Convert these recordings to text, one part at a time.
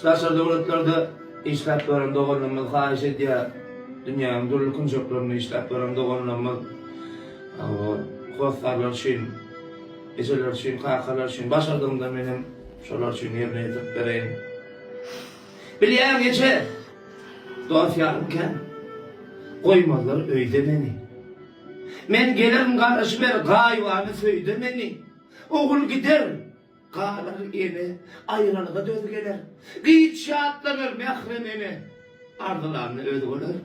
Daşary döwletlerde işläp ýören doganlarymyz haýyş edýär, dünýäniň dürli künjeklerinde işläp ýören doganlarymyz hossarlar üçin, ejeler üçin, kakalar üçin başardygymdan men hem şolar üçin ýerine ýetirip bereýin. Bilýäň, eje, dost ýarym kän. Goýmazlar öýde meni. Men gelerin garaşyber gaýybana söýde meni. Ogul gider. Galar ene, aýralyga döz geler, Gyz şatlanar, mährem ene, Arzylanyny özi görer.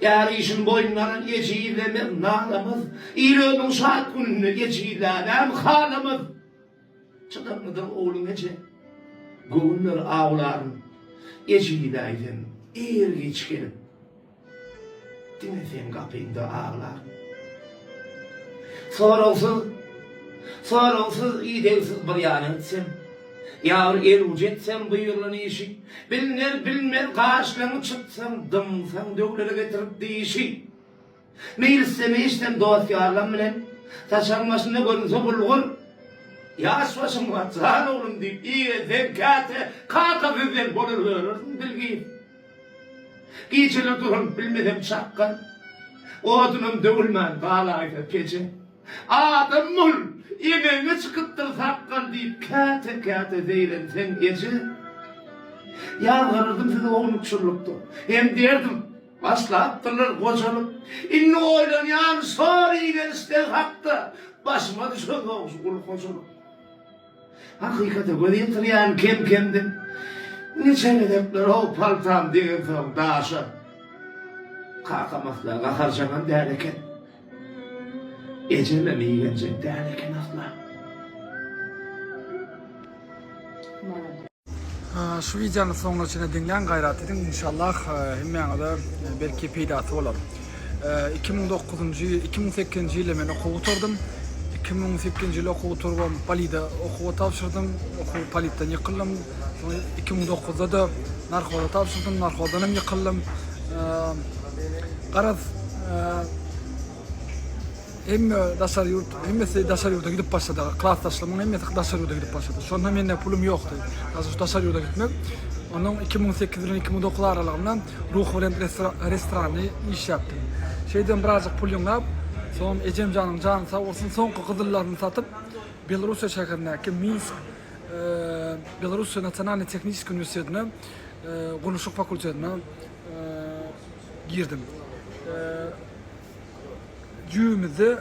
Är işin boýnuna alan ejizlemez, nalamaz, Il ömrüň şat gününde ejizlänem halamaz. Çydamlydyr ogluň eje, göwünler awlaryn, Ejizläýsem, ir-giç gelip. Diňe seň gapyňda aglar. Soragsyz, soragsyz, idegsiz bir ýana gitsem, Ýagyr el uj etsem buýrulan işi, Bilner, bilmez gaşlaň çytsam, Dymsaň döwlere getirip dişi. Meýlisem, eýsem dost-ýarlam bilen, Saçagyň başynda görünse bulgur, Ýaş başyň bar, jan oglum diýip iýgenseň käte, Kaka bizden bolar görersiň bilgi. Gijeler duranyp bilmesem çakgan, Odunam döwülmän galaýsa peje. Adam bol, emegiňe çykypdyr sakgal diýip käte-käte zeýrenseň eje. Ýazgarardym sizi ownukçyllykda, hem diýerdim, Başlapdyrlar gojalyk. Indi oýlanýan şor iýen isleg hakda, Başyma düşen zowjy gul hojalyk. Hakykata göz ýetirýärin kem-kemden. Niçe gezekler ow paltam degirsoň daşa. Kakam asla gaharjaňam däl eken. Ejemem igenjek däl eken asla. Şu wideony soňuna çenli diňläň gaýrat ediň inşallah hemmäňize belki peýdasy bolar. Iki müň dokuzynjy iki müň sekizinji ýylda men okuw gutardym. Iki müň sekizinji ýyl okuw gutarybam polide okuwa tabşyrdym. Okuw politden ýykyldym. Soň iki müň dokuzda-da narhoza tabşyrdym. Narhozdanam ýykyldym. Garaz Hemme daşary ýurt, hemmesi daşary ýurda gidip başlady. Klasdaşlarymyň hemmesi daşary ýurda gidip başlady. Şonda mende pulum ýokdy. Daşary daşary ýurda gitmek. Onuň iki müň sekiz bilen iki müň dokuz aralygynda Ruhybelent restorany işläpdim. Şeýdibem birazjyk pul ýygnap, soňam ejemjanyň jany sag bolsun, soňky gyzyllaryny satyp, Belorussiýa şäherindäki Minsk Belorussiýa nasionalnyý tehniçeskiý uniwersitetine gurluşyk fakultetine girdim. Jübimizde,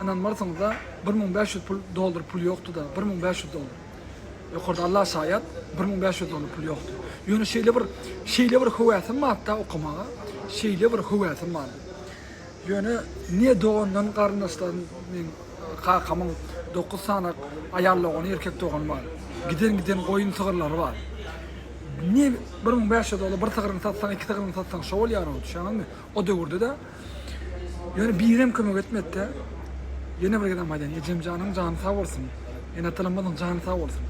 ynanmarsyňyz-a, bir müň bäş ýüz pul, dollar pul ýokdy-da, bir müň bäş ýüz dollar. Ýokarda Allah şaýat, bir müň bäş ýüz dollar pul ýokdy. Ýöne şeýle bir, şeýle bir höwäsim bardy-da okamaga, şeýle bir höwäsim bardy. Ýöne ne dogandan, garyndaşlardan, meň kakamyň dokuz sany aýal dogany, erkek dogany bar. Giden-giden goýun-sygyrlary bar. Ne bir müň bäş ýüz dollar, bir sygryňy satsaň, iki sygryňy satsaň, şo bolýar-ow, düşýäňizmi? O döwürde-de ýöne birem kömek etmedi-de. Ýene bir gezegem aýdaýyn, ejemjanyň jany sag bolsun, ene-atalarymyzyň jany sag bolsun.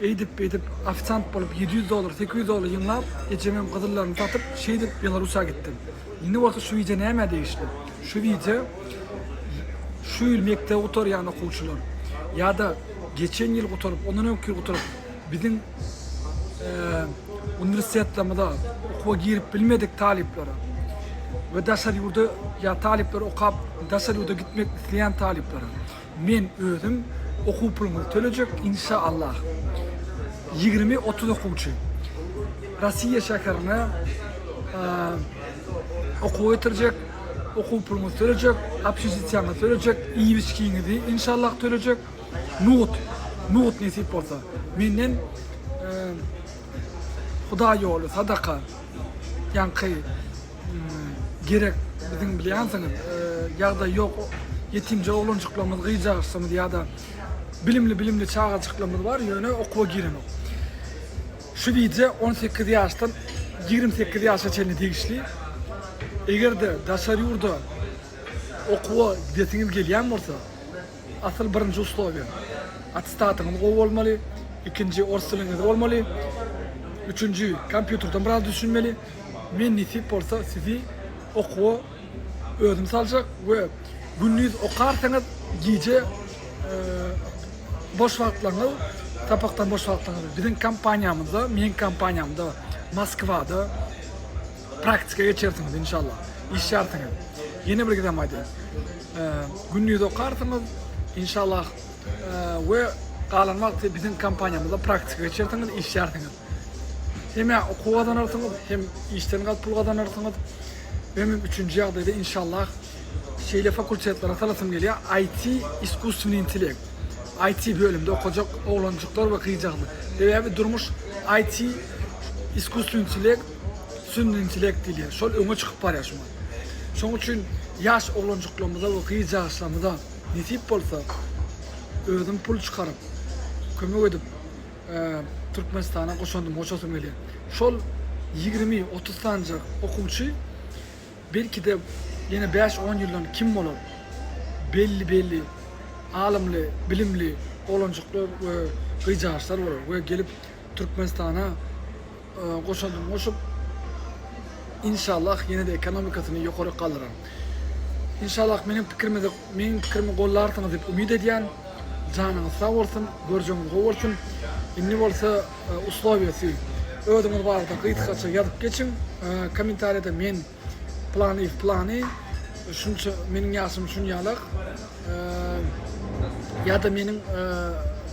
Eýdip, beýdip, ofisiant bolup, ýedi ýüz dollar, sekiz ýüz dollar ýygnap, ejemiň gyzyllaryny satyp, şeýdip Belarusýa gitdim. Indi bolsa şu wideo nämä degişli? Şu wideo şu ýyl mekdebi gutarýan okuwçylar ýa-da geçen ýyl gutaryp, ondan öňki ýyl gutaryp, biziň uniwersitetlerimize okuwa girip bilmedik talyplara we daşary ýurda ýa talyplar okap daşary ýurda gitmek isleýän talyplara men özüm okuw puluňyzy tölejek inşa Allah ýigrimi otuz okuwçy Rosiýa şäherine okuwa getirjek okuw puluňyzy tölejek obşesitiýaňyzy tölejek iýip içgiňizi inşa Allah tölejek Nohut, nohut nesip bolsa. Menden Hudaý ýoly, sadaka, ýaňky gerek biziň bilýänsiňiz ýagdaý ýok ýetimje oglanjyklarymyz, gyzjagazlarymyz ýa-da bilimli bilimli çagajyklarymyz bar ýöne okuwa girenok. Şu wideo on sekiz ýaşdan ýigrimi sekiz ýaşa çenli degişli. Eger-de daşary ýurda okuwa gidesiňiz gelýän bolsa, Asyl birinji uslowiýa, attestatyňyz gowy bolmaly, ikinji, ors diliňiz bolmaly, üçünji, kompýuterden biraz düşünmeli. Men nesip bolsa sizi okuwa özüm saljak we gündiz okarsyňyz, gije boş wagtlaryňyz, sapakdan boş wagtlaryňyz biziň kompaniýamyzda, meň kompaniýamda Moskwada, Praktika geçersiňiz inşallah. Işýärsiňiz. Ýene bir gezem aýdaýyn. Gündiz okarsyňyz inşallah we galan wagty biziň kompaniýamyzda praktika geçersiňiz, işýärsiňiz. Hem okuw gazanarsyňyz, hem işden galyp pul gazanarsyňyz. Hem üçünji ýagdaýda inşallah şeýle fakultetlere salasym gelýär, IT, iskusstweniý intellekt. IT bölümde okajak oglanjyklar we gyzjagazlar. Sebäbi durmuş IT, iskusstweniý intellekt Sünnü intellekt diýilýär. Şol öňe çykyp barýar şu wagt. Şoň üçin ýaş oglanjyklarymyza we gyz ýaşlarymyza nesip bolsa özüm pul çykaryp, kömek edip Türkmenistana goşandym goşasym gelýär. Şol ýigrimi, otuz sanyja okuwçy belki-de ýene bäş, on ýyldan kim bolar? Belli belli alymly, bilimli oglanjyklar we gyzjagaçlar bolar we gelip Türkmenistana goşandymy goşup, inşallah ýene-de ekonomikasyny ýokaryk galdyrar. Inşallah meniň pikirimi meniň pikirimi gollarsyňyz diýip umyt edýän. Janyňyz sag bolsun, görjegiňiz gowy bolsun. Indi bolsa uslowiýasy özüňiz barada gysgaça ýazyp geçiň kommentariýada men Planiý planiý şunça meniň ýaşym şunýalak ýada meniň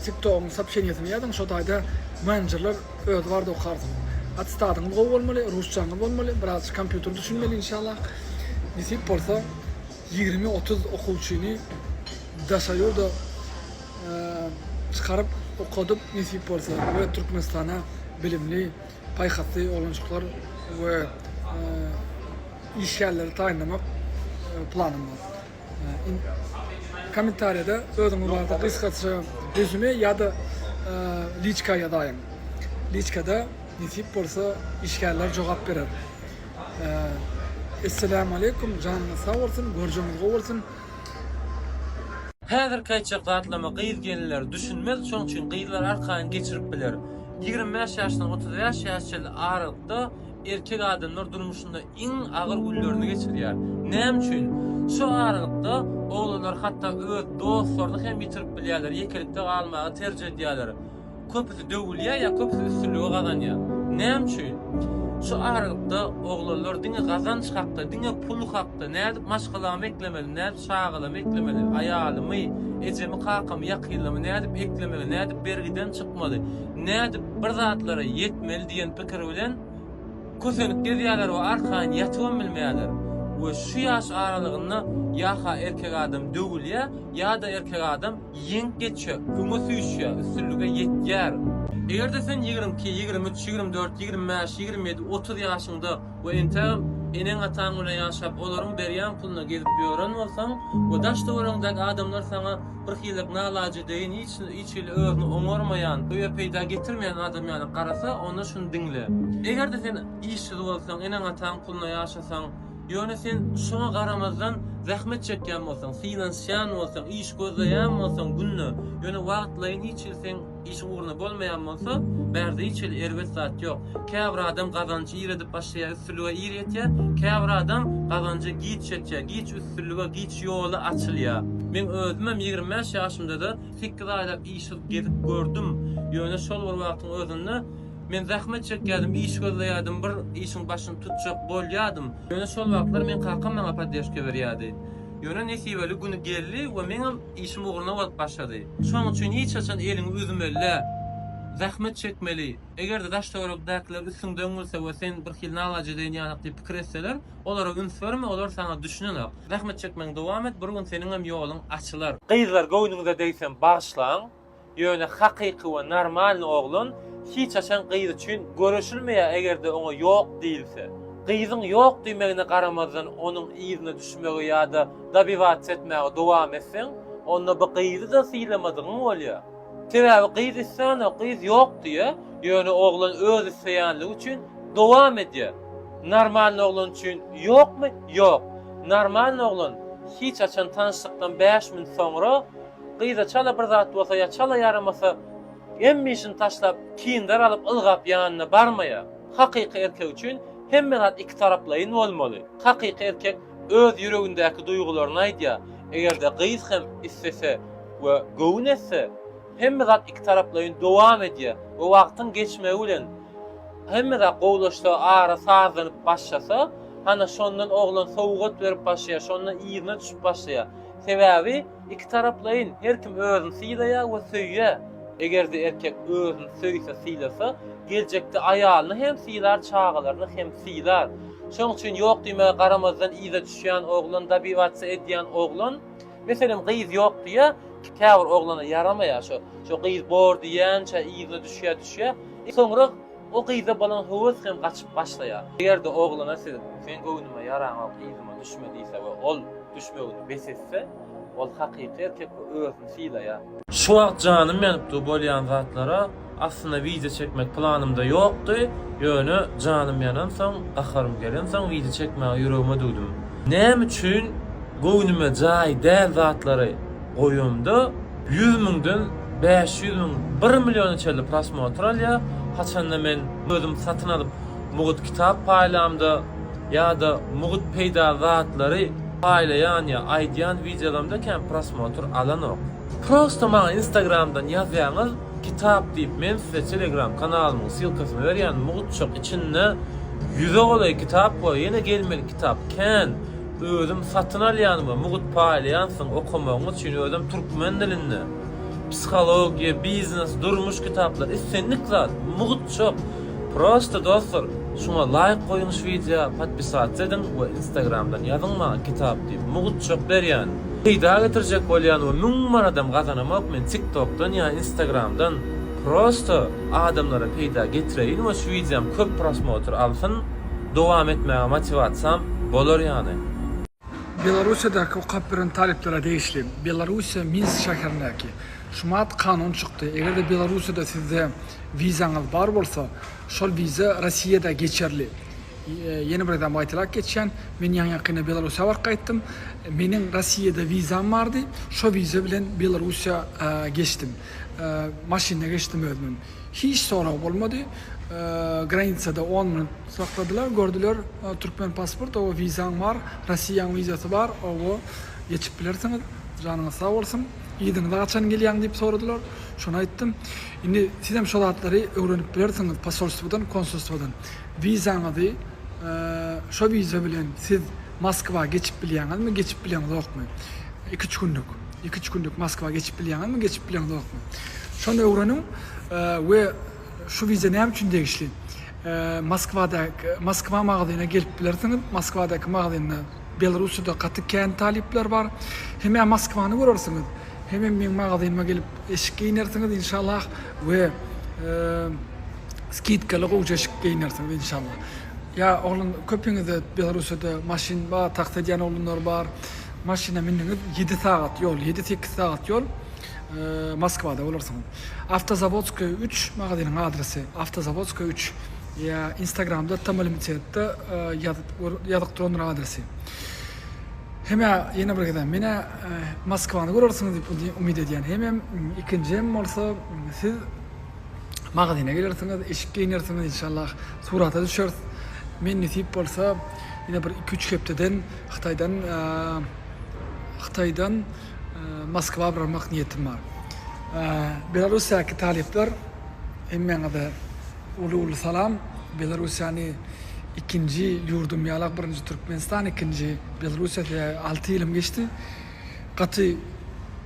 tiktogyň sopşeniýesini ýazyň şo taýda menenjerler özi barada okarsyn atestadyňyz gowy bolmaly rusçaňyz bolmaly biraz kompýuter düşünmeli inşallah nesip bolsa ýigrimi otuz okuwçyny daşary ýurda çykaryp okadyp nesip bolsa we türkmenistana bilimli paýhasly oglanjyklar we işgärleri taýynlamak planym bar. Kommentariýada özüňiz barada gysgaça rezüme ýa-da liçka ýazaýyň. Liçkada nesip bolsa işgärler jogap berer. Esselämu aleýkum, janyňyz sag bolsun, görjegiňiz gowy bolsun. Häzirki aýtjak zatlama gyz gelinler düşünmez şoň üçin gyzlar arkaýyn geçirip biler. Ýigrimi bäş ýaşdan otuz bäş ýaş çenli aralykda erkek adamlar durmuşynda iň agyr günlerini geçirýär. Näme üçin? Şu aralykda oglanlar hatda öz dostlaryny hem ýitirip bilýärler, ýekelikde galmagy terjih edýärler. Köpüsi döwülýär ýa köpüsi üstünligi gazanýar. Näme üçin? Şu aralykda oglanlar diňe gazanç hakda, diňe pul hakda, nädip maşgalamy eklemeli, Çagalamy eklemeli, aýalymy, ejemi-kakamy, ýakynlamy nädip eklemeli, nädip bergiden çykmaly, nädip bir zatlara ýetmeli diýen pikir bilen kösenip gezýärler we arkaýyn ýatybam bilmeýärler. We şu ýaş aralygynda ýa-ha erkek adam döwülýär, ýa-da erkek adam ýeňip geçýär, öňe süýşýär, üstünlige ýetýär. Eger-de sen ýigrimi iki, ýigrimi üç, ýigrimi dört, ýigrimi bäş, ýigrimi ýedi, otuz ýaşyňda We entägem eneň-ataň bilen ýaşap, olaryň berýän puluna gezip ýören bolsaň we daş-töweregiňdäki adamlar saňa birhililik nalaje deýin, hiç hiç hili özüni oňarmaýan, öýe peýda getirmeýän adam ýaly garasa, onda şuny diňle. Eger-de sen işsiz bolsaň, eneň-ataň puluna ýaşasaň, ýöne sen şoňa garamazdan zähmet çekýän bolsaň, synansýan bolsaň, iş gözleýän bolsaň günde, ýöne wagtlaýyn hiç hili seň. Işiň ugruna bolmaýan bolsa, bärde hiç hili erbet zat ýok. Käbir adam gazanjy ir edip başlaýar, üstünlige ir ýetýär, käbir adam gazanja giç ýetýär, giç üstünlige, giç ýoly açylýar. Meň özümem ýigrimi bäş ýaşymda-da sekiz aýlap işsiz gezip gördüm. Ýöne şol bir wagtyň özünde men zähmet çekýärdim, iş gözleýärdim, bir işiň başyny tutjak bolýardym. Ýöne şol wagtlar meň kakam maňa poddeşka berýärdi. Ýöne nesibeli güni geldi we meňem. Işim ugruna bolup başlady. Şonuň üçin hiç haçan eliňi üzmeli däl. Zähmet çekmeli. Eger-de daş-töweregidäkiler üstüňden gülse we sen birhili nalaje deýin ýanak diýip pikir etseler, olara üns berme, olar saňa düşünenok. Zähmet çekmegiňi dowam et, bir gün seniňem ýoluň açylar. Gyzlar göwnüňize degsem bagyşlaň. Ýöne hakyky we normalny oglan hiç haçan gyz üçin göreşilmeýär egerde oňa ýok diýilse. Gyzyň ýok diýmegine garamazdan onuň yzyna düşmegi ýada dobiwaca etmäge dowam etseň onda bu gyzyda sylamadygyň bolýar. Sebäbi gyz islänok gyz ýok diýýär ýöne oglan öz isleýänligi üçin dowam edýär. Normalny oglan üçin ýokmy ýok. Normalny oglan hiç haçan tanyşlykdan bäş minut soňra Gyza çala bir zat bolsa ýa çala ýaramasa, hemme işini taşlap, kindar alyp ylgap ýanyna barmaýar. Hakyky erkek üçin hemme zat iki taraplaýyn bolmaly. Hakyky erkek öz ýüregindäki duýgularyny aýdýar. Eger-de gyz hem islese we göwün etse, hemme zat iki taraplaýyn dowam edýär we wagtyň geçmegi bilen hemme zat gowulaşsa, ara sazlanyp başlasa, hana şondan oglan sowgat berip başlaýar, şondan yzyna düşüp başlaýar. Sebäbi. Ikitaraplaýyn, her kim özüni sylaýar we söýýär. Eger-de erkek özüni söýse, sylasa, geljekde aýalyny hem sylar, çagalaryny hem sylar. Şonuň üçin ýok diýmäge garamazdan yza düşýän oglan, dobiwatsiýa edýän oglan, meselem, gyz ýok diýýär, käbir oglana ýaramaýar, şo, şo gyz bor diýýänçä yzyna düşýär, düşýär, soňra, O gyza bolan höwes hem gaçyp başlaýar. Eger-de oglana siz, Seň göwnüme ýaraňok, yzyma düşme diýse we ol düşmegini bes etse, ol hakyky erkek we özüni sylaýar. Şu wagt janym ýanyp dur bolýan zatlara aslynda wideo çekmek planymda ýokdy, ýöne janym ýanansoň, gaharym gelensoň wideo çekmäge ýüregime düwdüm. Näme üçin göwnüme jaý däl zatlary. goýanda ýüz müňden bäş ýüz müň bir milliona çenli prosmotr alýar, haçanda men özüm satyn alyp mugut kitap paýlamda ýa-da mugut peýda zatlary paýlaýan ýa aýdýan wideolarymda kän prosmotr alanok. Prosta maňa instagramdan ýazýaňyz kitap diýip men size telegram kanalymyň ssilkasyny berýän mugutjak içinde ýüze golaý kitap bar ýene gelmelik kitap kän. Özüm satyn alýan we mugt paýlaýansyň, okamagyň üçin özem türkmen dilinde. Psihologiýa, biznes, durmuş kitaplar, islendik zat, mugt çop. Prosta dostlar, şuňa laýk goýuň şu wideo, podpisatsa ediň we instagramdan ýazyň maňa kitap diýip, mugt çop berýän. Peýda getirjek bolýan we müň manadam gazanamok men tiktokdan ýa instagramdan, prosta adamlara peýda getireýin we şu wideom köp prosmotr alsyn. dowam etmäge motiwasiýam bolar ýaly. Belorussiýadaky okap biren talyplara degişli Belorussiýa Minsk şäherindäki Şumat kanun çykdy, eger-de Belorussiýada sizde wizaňyz bar bolsa, şol wiza Rossiýada geçerli. Ýene bir gezegem gaýtalap geçýän, men ýaňy-ýakynda Belorussiýa baryp gaýtdym, meniň Rossiýada wizam bardy, şo wiza bilen Belorussiýa geçdim, maşynda geçdim özümem. Hiç sorag bolmady. Granicada on minut sakladylar, gördüler türkmen pasport, owo wizaň bar, Rossiýaň wizasy bar, owo geçip bilersiňiz, janyňyz sag bolsun, yzyňyza haçan gelýäň diýip soradylar, şony aýtdym. Indi sizem şo zatlary öwrenip bilersiňiz posolstwodan, konsulstwodan. Wizaňyzy şo wiza bilen siz. Moskwa geçip bilýäňizmi geçip bileňzokmy iki üç günlük iki üç günlük Moskwa geçip bilýäňizmi geçip bileňzokmy şony öwreniň we şu wiza näme üçin degişli Moskwadaky Moskwa magazyna gelip bilersiňiz Moskwadaky magazynda Belarussiýada gaty kän talyplar bar hemä Moskwany görersiňiz hemem meň magazynyma gelip eşik geýnersiňiz inşallah we skidkaly gowja eşik geýnersiňiz inşallah Ýa oglan köpiňizde Belarussiýada maşyn bar, taksi edýän oglanlar bar. Maşyna mindiňiz, ýedi sagat ýol, ýedi sekiz sagat ýol Moskwada bolarsyňyz. Awtozawodskoýa üç magazynyň adresi, Awtozawodskoýa üç. Ýa instagramda Tamalimitsetda ýazyp ýazyk durandyr adresi. Hemä ýene bir gezek menä Moskwany görersiňiz diýip umyt edýän. Hemem ikinjim bolsa siz Magazyna gelersiňiz, eşik geýnersiňiz inşallah, surata düşeris. Men nesip bolsa, ýene bir iki-üç hepdeden Hytaýdan Hytaýdan Moskwa barmak niýetim bar. Belarussiýadaky talyplar hemmäňize uly-uly salam. Belarussiýany ikinji ýurdum ýalak birinji Türkmenistan ikinji Belarussiýa alty ýylym geçdi. Gaty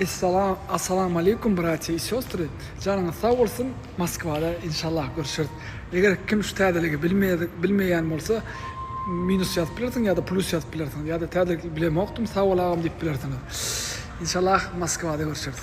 Essalam Assalamu Aleykum Bratýa i Sestry Janyňyz sag bolsun Moskwada inşallah görüşeris Eger kim şu täzeligi bilmeýädik bilmeýän bolsa minus ýazyp bilersiň ýa-da plus ýazyp bilersiň ýa-da täzelik bilemokdym sag bol agam diýip bilersiňiz Inşallah Moskwada görüşeris.